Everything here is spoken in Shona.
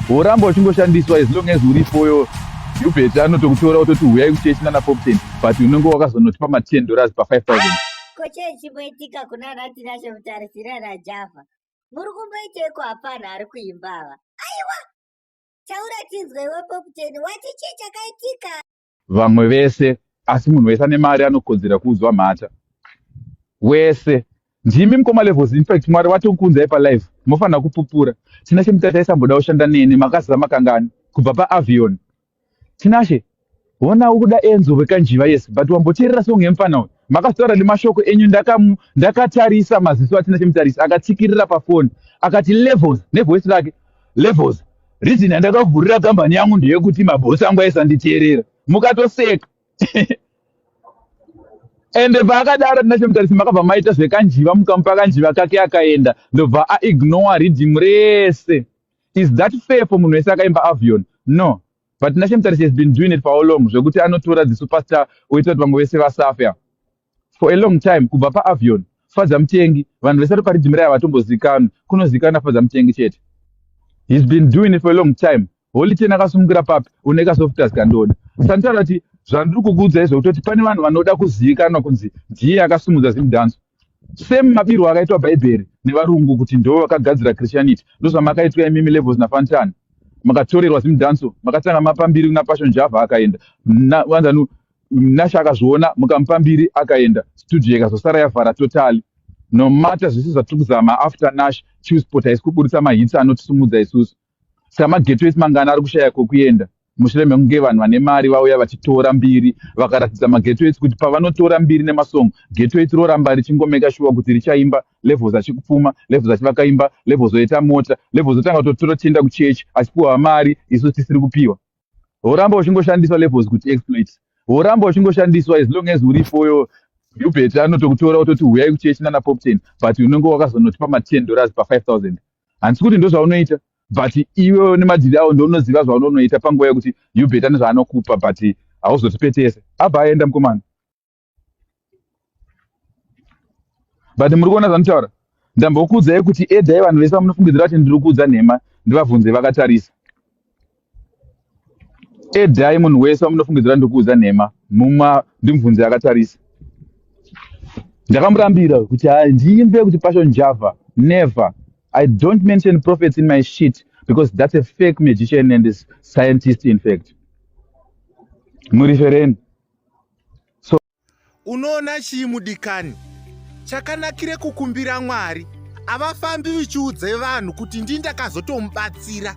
Woramba uchingoshandiswa as long as uripo yo Hubert anotokutora ototi huyai kuchechi nana Popten but unenge wakazonotipa ma 10 dollars pa 5000. Ko chii chimboitika kuna Natinashe Mutarisi nana Java? Muri kumboiteiko hapana ari kuimba ava? Aiwa! Taura tinzwe iwe Popten wati chii chakaitika? vamwe vese asi munhu wese ane mari anokodzera kuudzwa mhata wese ndimi mukoma levels infact mwari vatokuunzai palife mofanira kupupura tinashe mutati aisamboda kushanda neni makaziva makangani kubva paavion tinashe hona ukuda enzo wekanjiva yes but wamboteerera song yemufana uyu makataura nemashoko enyu ndakatarisa ndaka maziso atinashe mutarisi akatsikirira pafoni akati levels nevoice rake levels reason yandakavhurira kambani yangu ndeyekuti mabhosi angu aisanditeerera mukatoseka ende paakadaro tina chemutarisi makabva maita zvekanjiva mukamupa kanjiva kake akaenda ndobva aignore reading rese is that fair for munhu wese akaimba avion no but tina chemutarisi has been doing it for how long zvekuti anotora the superstar oita kuti vamwe vese vasafe For a long time kubva pa Avion, Fadza Mutengi vanhu vese variparidzi mirai havatombozikanwi, kunozikana Fadza Mutengi chete. He's been doing it for a long time. Holy Ten akasungira papi une ka softers kandoda. Santana ati zvandiri kukuudzai zvekutoti pane vanhu vanoda kuzivikanwa kunzi ndiye akasimudza zimudhanso. Same mabirwo akaitwa bhaibheri nevarungu kuti ndivo vakagadzira Christianity ndozvamakaitwa imimi levels na Fantana. Makatorerwa zimudhanso makatanga mapa mbiri kuna Passion Java akaenda. Na, wanzanu nasha akazviona mukamupa mbiri akaenda studio ikazosara yavhara totally no matter zvese zvatiri kuzama after nash chewsport haisi kuburitsa mahitsi anotisimudza isusu saka mageto esi mangana ari kushaya kwokuenda mushure mekunge vanhu vane mari vauya vachitora mbiri vakaratidza mageto esi kuti pavanotora mbiri nemasongo geto esi roramba richingomeka shuwa kuti richaimba levels achikupfuma levels achivaka imba levels oita mota levels otanga kutotora tichienda kuchechi achipiwa mari isu tisiri kupiwa woramba uchingoshandiswa levels kuti exploit woramba uchingoshandiswa as long as urifoyo hubert anotokutora ototi huyai kuchechi nana pop ten but unenge wakazonotipa maten dollars pafive thousand handisi kuti ndo zvaunoita but iwe nemadhiri awo ndounoziva zvaunonoita panguva yekuti hubert ane zvaanokupa but hauzotipetese abva aenda mukomana but muri kuona zvanditaura ndambokuudzai kuti edai vanhu vese vamunofungidzira kuti ndiri kuudza nhema ndivabvunze vakatarisa edai munhu wese vamunofungidzira ndiri kuudza nhema muma ndimubvunze akatarisa ndakamurambira kuti handiimbe kuti passion java never i don't mention prophets in my shit because that's a fake magician and scientist in fact murifereni so unoona chii mudikani chakanakire kukumbira mwari havafambi vichiudze vanhu kuti ndii ndakazotomubatsira